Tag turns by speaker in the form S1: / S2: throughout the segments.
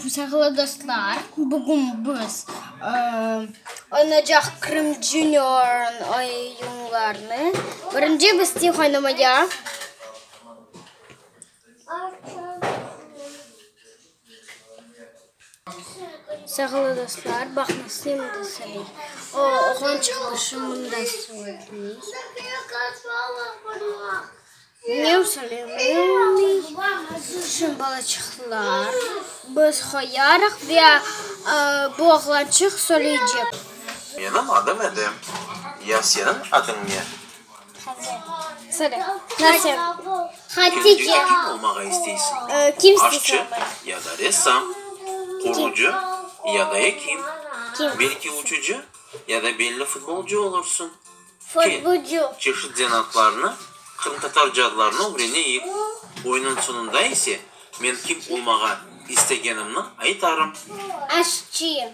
S1: Sağlı dostlar, bugün biz oynaycaq Krım Junior oyunlarını. Birinci biz tih oynamaya. Sağılı dostlar, baqıñız, Slim de Sali. O, oğlan çıqmışı mında suvaytmıy. Mev Sali, mevmi, Slim balaçıqlar. Biz qoyarıq ve bu oğlançıq soyleycek. Menim
S2: adım Edem. Ya seniñ adıñ ne?
S1: Söyle. Nasıl? Hatice. Kim olmağa
S2: isteysiñ? Kim isteysiñ
S1: olmağa? Aşçı ya
S2: da
S1: ressam,
S2: qurucı ya da ekim, belki
S1: uçucı
S2: ya da belli futbolcu olursıñ. Futbolcu.
S1: Kel, çeşit zanaatlarnı,
S2: qırımtatar cadlarını ögreneyik. Oyunıñ soñunda ise men kim olmağa istegenimni aytarım. Aşçı.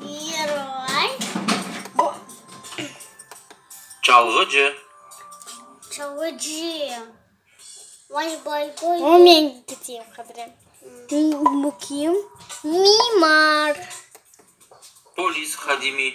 S1: Giroy.
S2: Çalğıcı. Çalğıcı.
S1: Baş balkoy. O men tutayım qadrin. Bu kim? Mimar.
S2: Polis hadimi.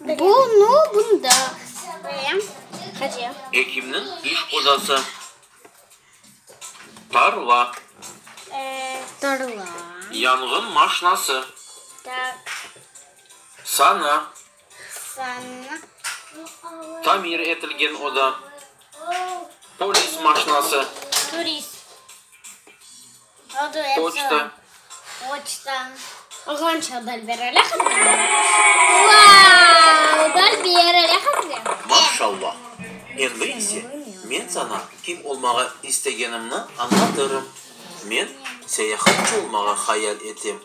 S2: Bu
S1: nu bunda. Ve qade. Ekimniñ
S2: iş qozası. Tarla.
S1: Tarla. Yanğın
S2: maşnası. Tak. Sana.
S1: Sana.
S2: Tamir etilgen oda. Polis maşnası. Turist.
S1: Poçta. Poçta. Oğlançıq Dalber öyle Maşallah.
S2: Endi ise men saña kim olmağa istegenimni añlatırım. Men seyahatçı olmağa hayal etem.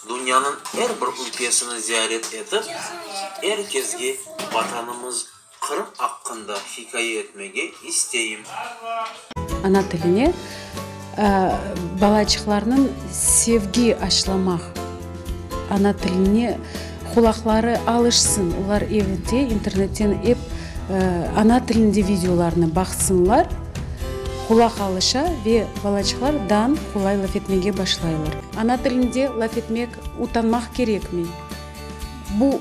S2: Dünyanıñ er bir ülkesini ziyaret etip, er kezge Vatanımız, Qırım aqqında hikaye etmege isteyim.
S3: Ana tiline balaçıqlarnıñ sevgi aşlamaq, ana tiline qulaqları alışsın, olar evde, internetten ep ana tilinde videolarnı baqsınlar, qulaq alışa ve balaçıqlar dan qolay laf etmege başlaylar. Ana tilinde laf etmek utanmaq kerekmi? Bu.